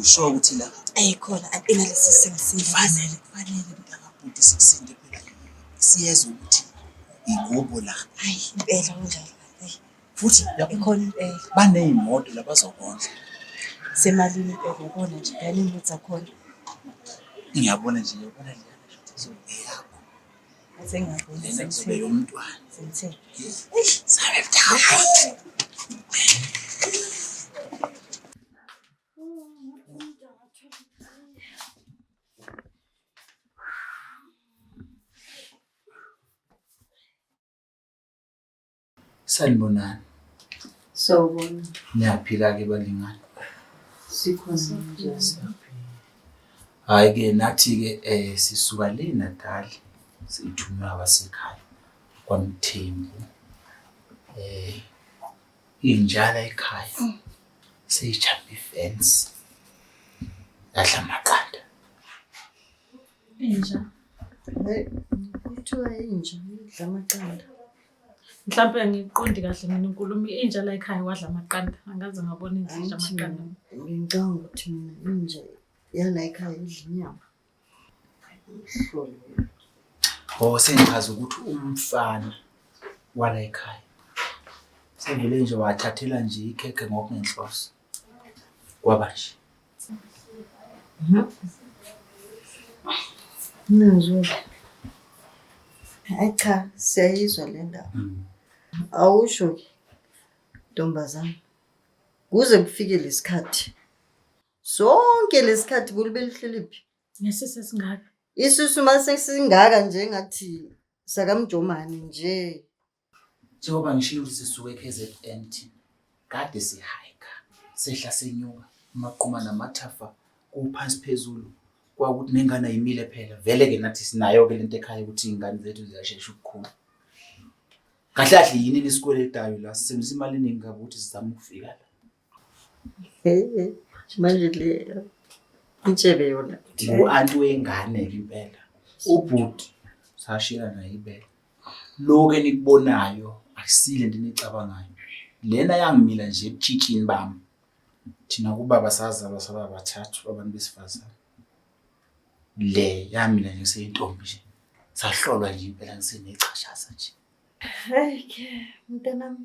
Usho ukuthi la ayikhona ampina lesi simo sifanele kufanele mntakabhuti sikusinde phela siyezwa ukuthi igubo la hayi impela kunjalo futhi ikhona impela baneyimoto labazokondla semalini impela yabona nje ngane imoto zakhona ngiyabona nje yabona nje eyakho sengiyabona lena kuzobe yomntwana sengithe sabe mdala Sanibonani. Sawubona. Niyaphila ke balingani? Sikhona njani? Hayi ke nathi ke eh sisuka le Natal sithunywa abasekhaya kwaMthembu. Eh injala ekhaya mm. seyijhambe ifence. Yadla amaqanda. Inja. Hey, kuthiwa inja idla amaqanda. Mhlawumpe angiqondi kahle mina inkulumo inja la ekhaya wadla amaqanda angaze ngabona inja idla amaqanda. Ngicabanga ukuthi mina inja yala ekhaya idla inyama. Oh sengichaza ukuthi umfana wala ekhaya. Sevele nje wathathela nje ikhekhe ngokungenhloso. Kwaba nje. Ngizwe. Hayi cha, siyayizwa le ndaba. Awusho ke ntombazana. Kuze kufike lesikhathi. Sonke lesikhathi kulube lihleli phi? Ngesise singaka. Isisu mase singaka nje ngathi sakamjomani nje. Njengoba ngishilo ukuthi sisuke eKZN thina kade sihayika sehla senyuka amaquma namathafa kuphansi phezulu kwakuthi nengane ayimile phela vele ke nathi sinayo ke lento ekhaya ukuthi ingane zethu ziyashesha ukukhula kahle kahle yini lesikweletayo la sisebenzisa imali eningi kabi ukuthi sizame ukufika la manje le intshebe yona ngu-anti wengane-ke impela ubhuti sashiyana naye ibele loku enikubonayo akusile nto eniyicabangayo lena yangimila nje ebutshitshini bami thina kubaba sazalwa saba bathathu abantu besifazane le yamila nje seyintombi nje sahlolwa nje impela ngisenechashaza nje Hey ke mntanami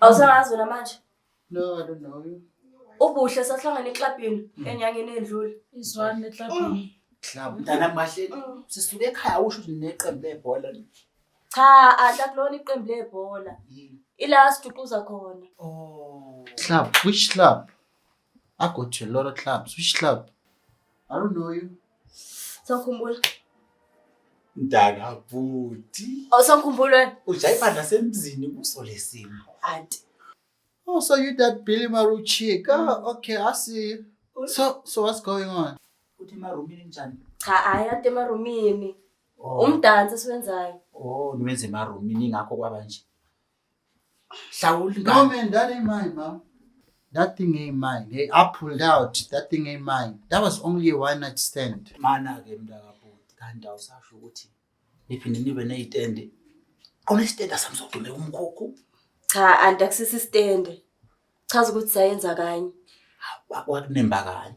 Awusangazi wena manje? No, I don't know you. Ubuhle sahlangana eklabhini hmm. enyangeni endlule. Izwani eklabhini. Club hmm. mntana mahle hmm. sisuke ekhaya usho ukuthi neqembu lebhola. Cha, adla kulona iqembu lebhola. Ila siduquza khona. Oh. Club, which club? I go to a lot of clubs. Which club? I don't know you. Sawukhumbula. Mntana bhuti. Oh sawukhumbula. Ujayiva nasemzini kuso lesimo. Auntie. Oh, so you that Billy Maru chick. Oh, mm. okay, I see you. So, so what's going on? Uthi emarumini njani? Cha, hayi ade emarumini. Oh. Umdansi esiwenzayo. Oh, niwenze emarumini ingakho kwaba nje. Hlawula ingane. No man, that ain't mine, mom. That thing ain't mine. Hey, I pulled out. That thing ain't mine. That was only a one night stand. Mana ke mntakabhuti kanti awusasho ukuthi niphinde nibe ney'tende khona isitende asamzogxume umkhukhu Cha anti akusisi stand. Chaza ukuthi sayenza kanye. Wa- wakunemba kanye